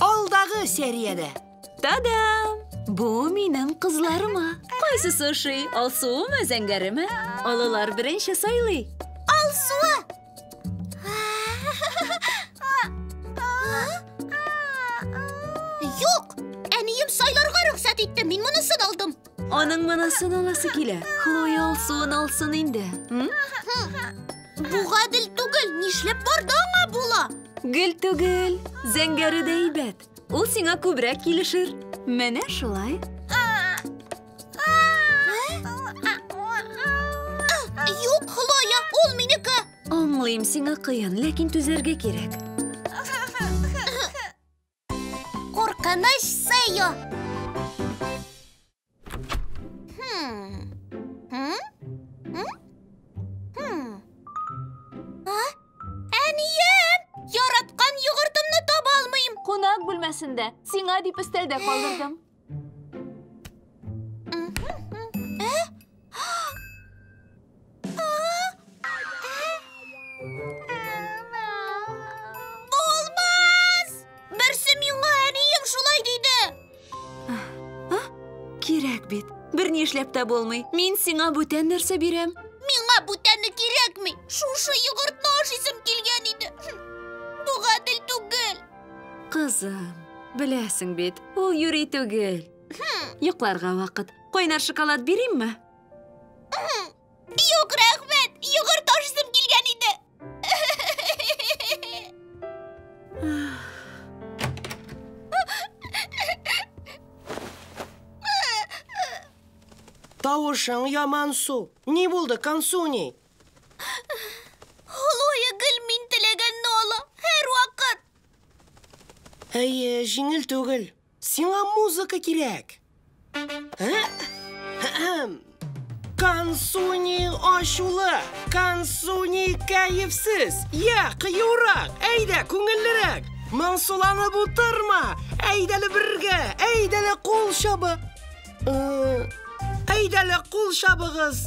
Алдагы сериядә. Та-дам! Бу минем кызларыма. Кайсысы ошый? Алсуымы, зәңгәреме? Олылар беренче сайлый. Алсуы! Юк! Әнием сайларга рөхсәт итте, мин монысын алдым. Аның монысын аласы килә. Хлоя алсуын алсын инде. Бу гадел түгел, нишләп барда аңа була? Гел түгел, зәңгәре дә әйбәт. Ул сиңа күбрәк килешер. Менә шулай. Юк, Хлоя, ул минеке. Аңлыйм, сиңа кыен, ләкин түзәргә кирәк. Куркыныч сыю. Әнием, яраткан йогыртымны таба алмыйм. Кунак бүлмәсендә. Сиңа дип өстәлдә калдырдым. эшләп тә булмый. Мин сиңа бүтән нәрсә бирәм. Миңа бүтәне кирәкми. Шушы йогыртны ашыйсым килгән иде. Бу гадел түгел. Кызым, беләсең бит, ул юри түгел. Йокларга вакыт. Кайнар шоколад бирейме? Юк, рәхмәт! Йогырт ашысым килгән иде. Тавышың ямансу. Ни булды, Кансуни? Хлоя гел мин теләгәнне ала, һәрвакыт. Әйе, җиңел түгел. Сиңа музыка кирәк. Ә? Әһәм. Кансуни ачулы, Кансуни кәефсез. Я, кыюрак, әйдә, күңеллерәк. Моңсуланып утырма. Әйдәле бергә, әйдәле кул чабы. Э, Әйдәле кул чабыгыз.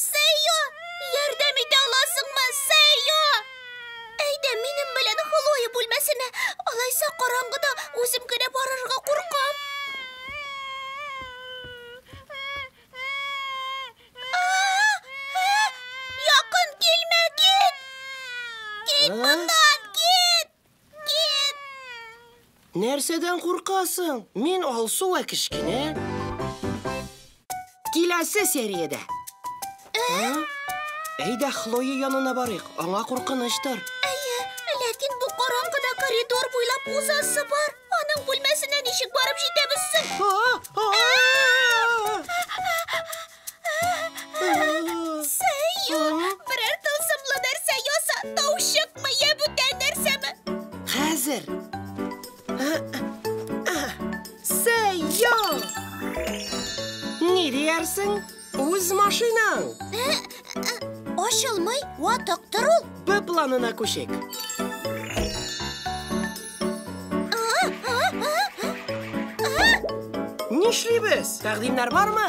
Сәйо! Ярдәм итә аласыңмы, Сәйо! Әйдә, минем белән Хлоя бүлмәсенә. Алайса караңгыда үзем генә барырга куркам. Якын килмә, кит! Кит моннан, кит! Нәрсәдән куркасың? Мин Алсу вә кечкенә. Киләсе сериядә. Әйдә, Хлоя янына барыйк. Аңа куркыныштыр. Әйе, ләкин бу караңгыда коридор буйлап узасы бар. Аның бүлмәсенә ничек барып җитәбез соң? Сәю, берәр тылсымлы нәрсә яса, тау чыкмы, йә бүтән нәрсәме? Хәзер. Сәю! Ни диярсең? Үз машинаң. Ачылмый, ватык тор ул. Б планына күчик. Нишлибез? Тәкъдимнәр бармы?